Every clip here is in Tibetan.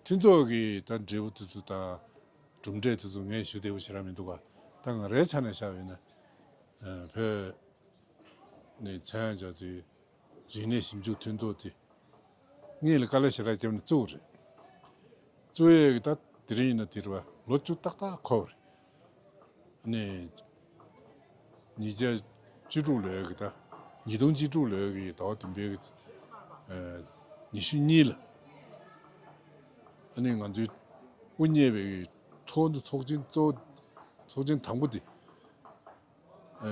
མཐུན་ཚོགས་ཀྱིས་ད་འབྲས་བུ་དེ་ཚོ་དང་གྲུབ་འབྲས་དེ་ཚོ་ངས་ཞུ་བདེ་བོ་བྱེད་རག་མི་འདུག་ག་ད་ང་རའི་ཆ་ནས་བཤད་ཡོད་ན། བོད་ནས་མཚན་ཡང་རྒྱག་དུས་རིག་གནས་ཞིབ་འཇུག་མཐུན་ཚོགས་དེ་གཉིས་ལ་དཀའ་ལས་བྱེད་རག་རྒྱབ་ནས་བཙུགས་རེད་བཙུགས་ཡས་ཀྱི་ད་དེ་རིང་ཡིན་ན་དེ་རུ་བ་ལོ་བཅུ་ཏག་ཏག་འཁོར་བ་རེད། ནས་ཉིས་བརྒྱ་བཅུ་དྲུག་ལོའི་གི་ཟླ་ཉིས་སྟོང་བཅུ་དྲུག་ལོའི་གི་ཟླ་བ་བདུན་པའི་ཉི་ཤུ་གཉིས་ལ། ནས་ང་ཚོའི་དབུ་བརྙེས་པའི་གི་ཐོག་འདུ་ཚོགས་ཆེན་གཙོ་བོ་ཚོགས་ཆེན་དང་པོ་དེ།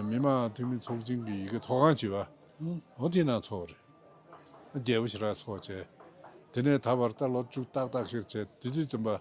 མི་དམངས་འཐུས་མི་ཚོགས་ཆེན་གི་ཡི་གེ་ཐོག་ཁང་བྱིས་པ་འོ་དེ་ནང་འཚོགས་རེད། རྒྱལ་པོ་ཞི་རག་འཚོགས་བྱས། དེ་ནས་ད་བར་ལྟར་ལོ་བཅུ་ཏག་ཏག་ཤེར་བྱས་དེ་དུས་བཙུན་པ།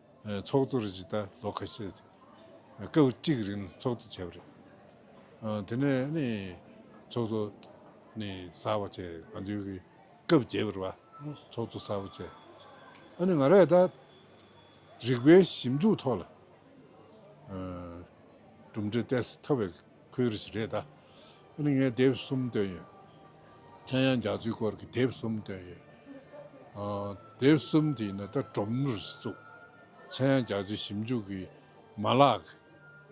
ཚོགས་གཙོ་རེད་ཅེས་ད་ལོ་ཁ་ཤས་སྐབས་གཅིག་རིང་ཚོགས་གཙོ་བྱས་པ་རེད། དེ་ནས་ནི་ཚོགས་གཙོ་ནི་གསར་བ་བྱས་ང་ཚོའི་གི་སྐབས་བརྒྱད་པར་བ་ཚོགས་གཙོ་གསར་བ་བྱས། ཨ་ནི་ང་རས་ད་རིག་པའི་ཞིབ་འཇུག་ཐོག་ལ་གྲུབ་འབྲས་གཏད་སོ་ཐོབ་པའི། ཁོའི་རེ་ཞིག་རེད་ད། ཨ་ནི་ངས་དེབ་གསུམ་བཏོན་ཡོད། ཁྱེད་ཡང་རྒྱག་རྩིས་སྐོར་གྱི་དེབ་གསུམ་བཏོན་ཡོད། དེབ་གསུམ་དེ་ནི་ད་སྒྲོམ་རུ་བཙུགས། ཁྱེད་ཡང་རྒྱག་རྩིས་ཞིབ་འཇུག་གི་མ་ལག་གི་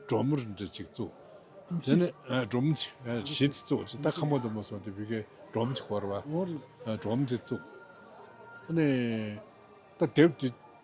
སྒྲོམ་རུ་འདི་གཅིག་བཙུགས། དེ་ནི་སྒྲོམ་གཞི་དེ་བཙུགས། ད་ཁ་མོ་དུ་མ་སོང་དུས་བི་ཀའི་སྒྲོམ་གྱི་སྐོར་བ། སྒྲོམ་དེ་བཙུགས། ཨ་ནི་ད་དེབ་དེ།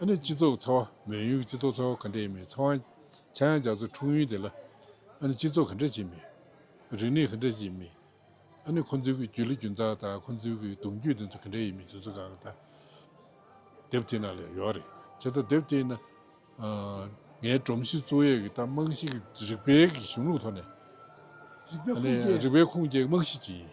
ཨ་ནི་སྤྱི་ཚོགས་ཀྱི་ཚ་བ་མེད་ཡུལ་གྱི་སྤྱི་ཚོགས་ཚ་བ་ག་འདྲ་ཡིན་མིན་ཚ་བ་ཆ་ཡང་རྒྱག་ཚུལ་འཁྲུངས་ཡུལ་དེ་ལ་ཨ་ནི་སྤྱི་ཚོགས་ག་འདྲ་ཅིག་མིན། རིག་གནས་ག་འདྲ་ཅིག་མིན། ཨ་ནི་ཁོ་ཚོའི་གི་རྒྱུ་ལི་རྒྱུ་མཚན་དང་ཁོ་ཚོའི་གི་གདུང་རྒྱུད་དེ་ཚོ་ག་འདྲ་ཡིན་མིན་དེ་ཚོ་གང་ལྟར་དེབ་དེ་ནང་ལ་ཡོད་རེད། དེ་ལྟར་དེབ་དེ་ནི་ངའི་སྒྲོམ་གཞི་གཙོ་ཡས་ཀྱི་དང་རྨང་གཞི་གི་རིག་པའི་གི་གཞུང་ལུགས་ཐོག་ནས་རིག་པའི་ཁུངས་སྐྱེལ་རྨང་གཞི་ཅིག་ཡིན།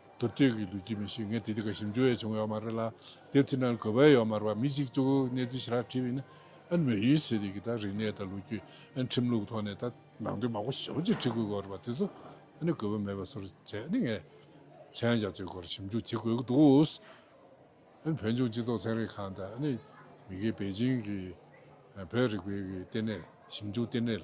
དུར་སྟོད་ཀྱི་ལུས་ཀྱི་མི་ཞིག་ངས་དེ་དུས་ཀ་ཞིམ་ཅུ་བས་བྱུང་ཡོད་མ་རེད་ལ། དེ་དུས་ན་གོ་བས་ཡོད་མ་རེད་པ་མི་གཅིག་གཅུག་གནས་ཚུལ་ཞེ་དྲག་དྲིས་པས་ན། ཨ་མོས་ཡུལ་སྲིད་རིག་གི་དང་རིག་གནས་དང་ལོ་རྒྱུས། ཁྲིམས་ལུགས་ཐོག་ནས་དང་ནང་དོན་མང་པོ་ཞིབ་པོ་ཅིག་དྲིས་དགོས་དགོས་རེད་པ་དེ་ཚོ། ཨ་ནི་གོ་བས་མེད་པ་སོར་བྱས་ནས་ངས། ཚན་རྒྱ་མཚོའི་སྐོར་ཞིབ་འཇུག་བྱེད་དགོས་ཀྱི་འདུག་ཨཱ་ནི་བོད་ལྗོངས་སྤྱི་ཚོགས་ཚན་རིག་ཁང་དང་ཨཱ་ནི་མི་སྒེར་པེ་ཅིང་གི། བོད་རིག་པའི་ལྟེ་གནས་ཞིབ་འཇུག་ལྟེ་གནས།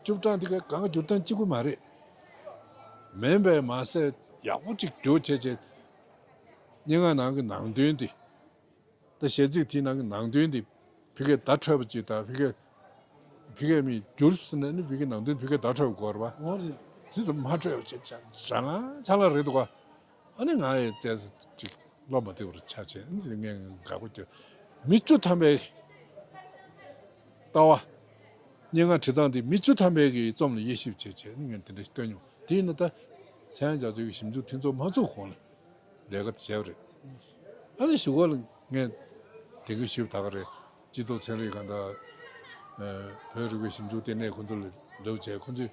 བཅུ་གྲངས་དེ་ག་གང་སྒྱུར་སྟངས་གཅིག་པུ་མ་རེད། མིན་པས་མ་ཟད་ཡག་པོ་གཅིག་བསྒྱུར་བྱས་བྱས་ཏེ། སྙན་ངག་ནང་གི་ནང་དོན་དེ་དང་གཞས་ཚིག་དེའི་ནང་གི་ནང་དོན་དེ་བི་ཀའི་བརྡ་འཕྲོད་པ་ཅིག་དང་བི་ཀའི་བི་ཀའི་མིས་བསྒྱུར་ཟིན་ན་ནི་བི་ཀའི་ནང་དོན་བི་ཀའི་བརྡ་འཕྲོད་པའི་སྐོར་བ། ཇི་ལྟར་མ་འཕྲོད་པ་ཅིག་ཆ་ལ་རེད་འདུག་ག། ཨ་ནི་ང་ཡི་ལྟས་ཟེར་ཅིག་བློ་མ་བདེ་བར་ཆགས་བྱས་ཨ་ནི་ངས་དགའ་དགོས་ཀྱི་མི་བཅུ་ཐམ་པའི་ལྟ་བ། སྙན་ངག་བྲིས་སྟངས་འདི་མི་བཅུ་ཐམ་པའི་གི་རྩོམ་ལ་དབྱེ་ཞིབ་བྱས་བྱས་ཨ་ནི་ངས་དེ་འདྲ་ཞིག་བཏོན་མྱོང་དེ་ཡིན་ན་ད་ཚན་རྒྱ་མཚོའི་གི་ཞིབ་འཇུག་མཐུན་ཚོགས་མ་ཚུགས་གོང་ལ་ལས་ཀ་དེ་བྱས་པ་རེད། ཨ་ནི་ཞུ་གོ་ལ་ངས་དེ་གི་ཞིབ་ད་ག་རེད་སྤྱི་ཚོགས་ཚན་རིག་ག་འདྲ། བོད་རིག་པའི་ཞིབ་འཇུག་ལྟེ་གནས་ཁོང་ཚོ་ལ་ལོས་བྱས་ཁོང་ཚོས་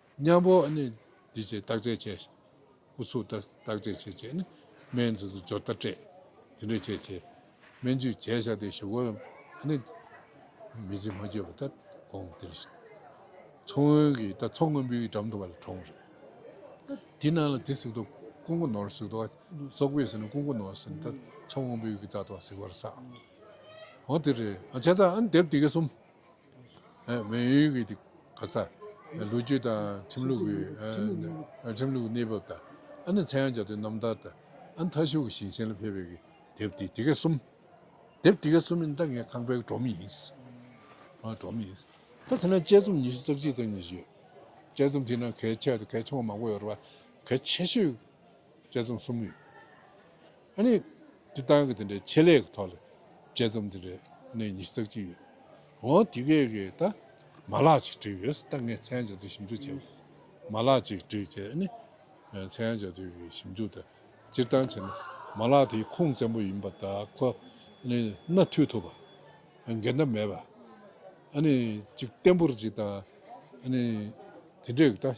མཉམ་པོ་ནི་འདི་བྱས་བརྟག་དཔྱད་བྱས། སྐུ་གཟུགས་ལྟར་བརྟག་དཔྱད་བྱས་བྱས་ནི། སྨན་འདི་ཚུལ་སྦྱོར་ལྟར་སྤྲས་དེ་འདྲ་བྱས་བྱས། སྨན་བཅུད་བྱས་བྱ་སྟེ་ཞུགས་བ་ནི། མི་བྱེད་མ་བསྐྱོད་པ་ལྟར་དགོངས་འདིར་བཞེད། མཚོ་སྔོན་གྱི་ད་མཚོ་སྔོན་པོའི་འགྲམ་དུ་བ་ལ་གྲོང་རེད། དེ་ནང་ལ་དེ་ཟིག་ཏུ་སྐུ་མགོ་ནོར་ཟིག་ཏུ་སོག་པོས་ཟིག་ན་སྐུ་མགོ་ནོར་ཟིག་ན་ད་མཚོ་སྔོན་པོའི་གི་ད་དུ་བ་ཟིག་བར་ས། འོ་དེ་རེད་ཨ་བྱས་ད་ཨ་ནི་དེབ་དེ་གས་གསུམ། བོད་ཡུལ་གྱི་གོ་ས། ལོ་རྒྱུས་དང་ཁྲིམས་ལུགས་ཀྱི་གནས་བབ་དང། ཚན་ཡང་བརྒྱ་དོན་རྣམ་ཐར་དང། མཐའ་ཤུག་གི་ཞིང་ཆེན་ལ་ཕེབས་པའི་དེབ་དེ་ག་གསུམ། དེབ་དེ་ག་གསུམ་ཡིན་ད་ངས་ཁང་པའི་གྲོང་མི་ཡིན། གྲོང་མི་ཡིན། ད་དེ་ན་དཔྱད་རྩོམ་ཉི་ཤུ་རྩ་གཅིག་རྩ་གཉིས་ཤིག་ཡོད། དཔྱད་རྩོམ་དེའི་ནང་གལ་ཆེ་གལ་ཆུང་བ་མང་པོ་ཡོད་རེད་བ། གལ་ཆེ་ཤོས། དཔྱད་རྩོམ་གསུམ་ཡོད། ཨ་ནི་འདི་བཏང་གི་དེ་འདྲའི་ཆེད་ལས་ཀྱི་ཐོག་ལ་དཔྱད་རྩོམ་འདི་རེ་གནས་ཉི་ཤུ་རྩ་གཅིག་ཡོད། འོང་དེ་གས་ཀྱི་ད་མ་ལག་ཅིག་བྲིས་ཡོད་ད་ངས་ཚན་བྱ་དུས་ཞིབ་འཇུག་བྱས་པ། མ་ལག་ཅིག་བྲིས་རྗེས་ཨ་ནི་ཚན་བྱ་དུས་ཀྱི་ཞིབ་འཇུག་དང་སྤྱིར་བཏང་བྱས་ན་མ་ལག་དེའི་ཁུངས་བཙན་པོ་ཡིན་པ་ད་ཁོ་ནི་སྣ་མཐུད་ཐུབ་པ། འགལ་ཟླ་མེད་པ། ཨ་ནི་གཅིག་བརྟན་པོར་གཅིག་བཏང་ཨ་ནི་དེ་འདྲས་ཀྱི་ད།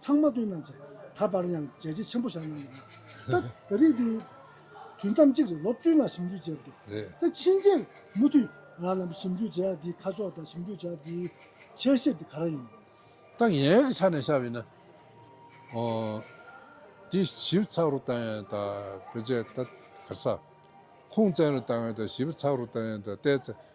ཚང་མ་བསྟུན་གནང་བྱས། ད་བར་ཡང་བྱས་རྗེས་ཆེན་པོ་བཞག་གནང་ཡོད། ད་ད་རེས་འདི་དུས་མཚམས་གཅིག་རེད་ལོ་བཅུ་ནང་ཞིབ་འཇུག་བྱས་འདུག་ད་ཕྱིན་ཆད་མུ་མཐུད་རང་རྣམ་པ་ཞིབ་འཇུག་བྱས་འདིའི་ཁ་ཕྱོགས་དང་ཞིབ་འཇུག་བྱས་འདིའི་འཆལ་ཤེས་འདི་ག་རང་ཡིན། ད་ངའི་ཡག་ཆ་ནས་བཤད་ཡོད་ན། དེ་ཞིབ་ཚགས་རུ་བཏང་ཡང་ད་བོད་ཆས་ད་གར་ཚགས། ཁུངས་བཙན་རུ་བཏང་ཡང་ད་ཞིབ་ཚགས་རུ་བཏང་ཡང་ད་བལྟས་ཚེ།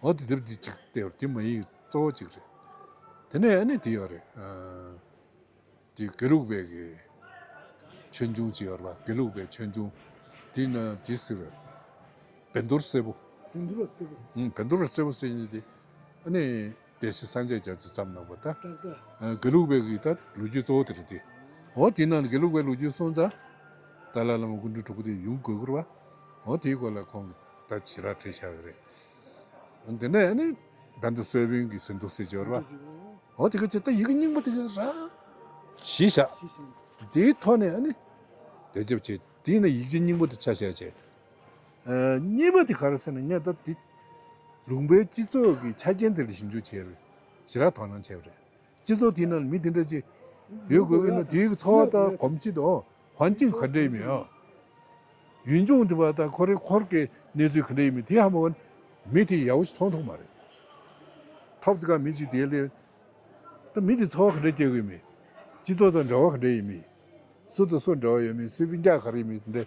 འོ་དེ་དེབ་དེ་གཅིག་དེ་བར་དེ་མ་ཡིག་གཙོ་བོ་གཅིག་རེད། དེ་ནས་ཨ་ནི་དེ་ཡོད་རེད། དེ་དགེ་ལུགས་པའི་གི་ཆོས་འབྱུང་གཅིག་ཡོད་རེད་པ་དགེ་ལུགས་པའི་ཆོས་འབྱུང། དེ་ན་དེ་ཟེར་བའི་བན་དུར་སེར་པོ། བན་དུར་སེར་པོ། བན་དུར་སེར་པོ་ཟེར་ནས་དེ་ཨ་ནི། དེ་སྲིད་སངས་རྒྱས་རྒྱ་མཚོས་བརྩམས་གནང་བ་ལྟར། དགེ་ལུགས་པའི་གྱི་ལྟར་ལོ་རྒྱུས་གཙོ་བོ་དེ་རེད་དེ། འོ་དེའི་ནང་ནས་དགེ་ལུགས་པའི་ལོ་རྒྱུས་སོང་ཙང། ཏཱ་ལ་བླ་མ་སྐུ་མགྲོན་དྲུག་པོ་དེ་ཡུམ་དགོས་མཁོར་བ། འོ་དེའི་སྐོར་ལ་ཁོང་གིས་ད་ཇི་རག་བྲིས་བཞག་གི་རེད། དེ་ནས་ནི། ད་འདི་སོལ་བིང་གི་ཟིན་ཐོ་གསེར་སྦྱོར་བ། འོ་དེ་ག་ཇི་ལྟར་ཡི་གེ་རྙིང་པོ་དེ་ག་རག། གཞི་བཞག། དེའི་ཐོག་ནས་ནི། དེ་རྒྱབ་བྱས། དེའི་ནི་ཡིག་ཆའི་རྙིང་པོ་དེ་ཆ་ཤས་བྱས། གཉིས་པ་དེ་ག་རེད་ཟེར་ན་ངས་ད་དེ་ལུང་པའི་སྤྱི་ཚོགས་ཀྱི་ཆ་རྐྱེན་དེ་ལ་ཞིབ་འཇུག་བྱས་རེད། ཞེ་དྲག་དོ་སྣང་བྱས་པ་རེད། སྤྱི་ཚོགས་དེའི་ནང་ལ་མི་དེ་འདྲ་ཅིག་ཡོད་དགོས་ཀྱི་ན་དེའི་འཚོ་བ་དང་གོམས་གཤིས་དང་ཧོན་ཅིང་ག་འདྲ་ཡིན་མིན། ཡུལ་ལྗོངས་དེ་བ་དང་ཁོ་རེ་འཁོར་གྱི་གནས་ཚུལ་ག་འདྲ་ཡིན་མིན་དེ་ཧ་མ་ཧོན་མི་དེ་ཡག་པོ་ཞིག་མཐོང་ཐུབ་མ་རེད། ཐོབ་དེ་ག་མི་ཞིག་དེའི་སླད་ད་མི་དེ་འཚོ་བ་ག་འདྲ་སྐྱེལ་དགོས་ཡིན་མིན། སྤྱི་ཚོགས་དང་འབྲེལ་བ་ག་འདྲ་ཡིན་མིན། སུ་དང་སུ་འབྲེལ་བ་ཡོད་མིན་སུའི་རྐྱག་ག་རེ་ཡིན་མིན་དེ་འདྲ།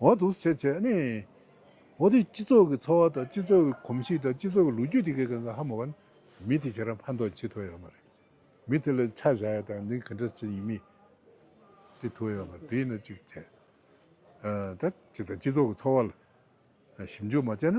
འོག་ཏུ་བྱས་བྱས་ནས། འོག་དེ་སྤྱི་ཚོགས་ཀྱི་འཚོ་བ་དང་སྤྱི་ཚོགས་ཀྱི་གོམས་གཤིས་དང་སྤྱི་ཚོགས་ཀྱི་ལོ་རྒྱུས་དེ་གས་གང་གང་ཧ་མ་བར། མི་དེ་ཁྱེད་རང་ཕན་ཐོགས་བྱེད་ཐུབ་ཡོད་མ་རེད། མི་དེ་ལ་ཆ་བཞག་ཡ་དང་འདི་ག་འདྲ་བྱེད་ཡིན་མིན། དེ་ཐུབ་ཡོད་མ་རེད་དེ་ནས་ཅིག་བྱས། ད་ཅིག་དང་སྤྱི་ཚོགས་ཀྱི་འཚོ་བ་ལ་ཞིབ་འཇུག་མ་བྱས་ན།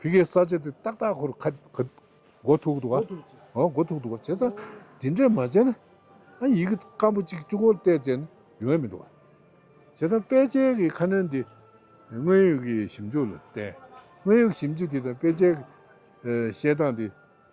བུ་གའི་ས་ཆ་དེ་ཏག་ཏག་ཁོར་ཁ་མགོ་ཐུག་འདུག་ཨ་མགོ་ཐུག་འདུག་བྱས་ཙང་དེ་འདྲས་མ་བྱས་ན་ཨ་ཡི་གེ་སྐམ་པོ་གཅིག་ཅུང་ཁོར་བལྟས་བྱས་ན་ཡོང་ཡ་མི་འདུག་བྱས་ཙང་དཔེ་ཆའི་གི་ཁ་སྣོན་དེ་དངོས་ཡོད་གི་ཞིབ་འཇུག་ལ་བརྟེན་དངོས་ཡོད་གི་ཞིབ་འཇུག་དེ་དང་དཔེ་ཆའི་གི་བཤད་སྟངས་དེ